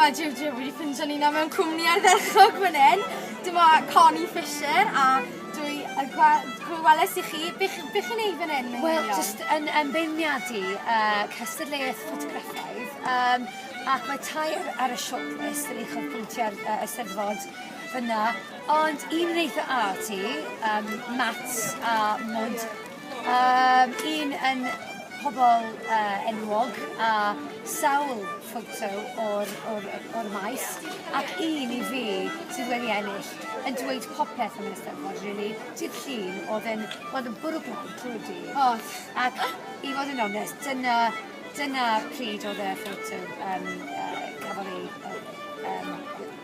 Wel, jiw jiw, wedi ffindio ni nawr mewn cwmni ardderchog fan hyn. Dyma Connie Fisher a dwi y gwelais i chi. Beth be chi'n ei fan hyn? Wel, jyst yn ymbeiniadu uh, cystadleuaeth ffotograffaidd. Um, ac mae tair ar y shortlist yn eich pwyntiau ar uh, ysteddfod fyna. Ond un yn eitha a ti, um, Mats a Mod Yym un yn pobol yy enwog a sawl ffoto o'r o'r yy o'r maes ac un i fi sydd wedi ennill yn dweud popeth am yr Eisteddfod rili, dydd Llun o'dd e'n o'dd yn bwrw glaw trw'r dydd. O'dd. Ac i fod yn onest dyna dyna pryd o'dd y ffoto yym yy cafodd ei yy yym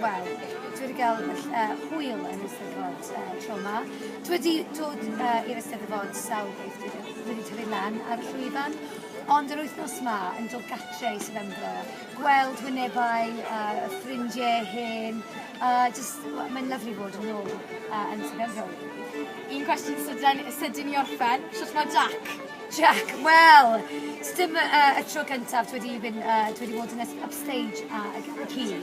Wel, dwi wedi cael uh, hwyl yn Eisteddfod uh, tro yma. Dwi wedi dod uh, i'r Eisteddfod sawl beth dwi wedi tyfu lan ar y llwyfan, ond yr wythnos yma yn dod gatre i Sefembro, gweld wynebau, uh, ffrindiau hen, uh, just, mae'n lyflu bod yn ôl uh, yn Sefembro. Un cwestiwn sydyn, sydyn i orffen, sut mae Jack? Jack, wel, dim uh, y tro cyntaf dwi wedi, mynd, uh, dwi wedi bod yn upstage a, a, a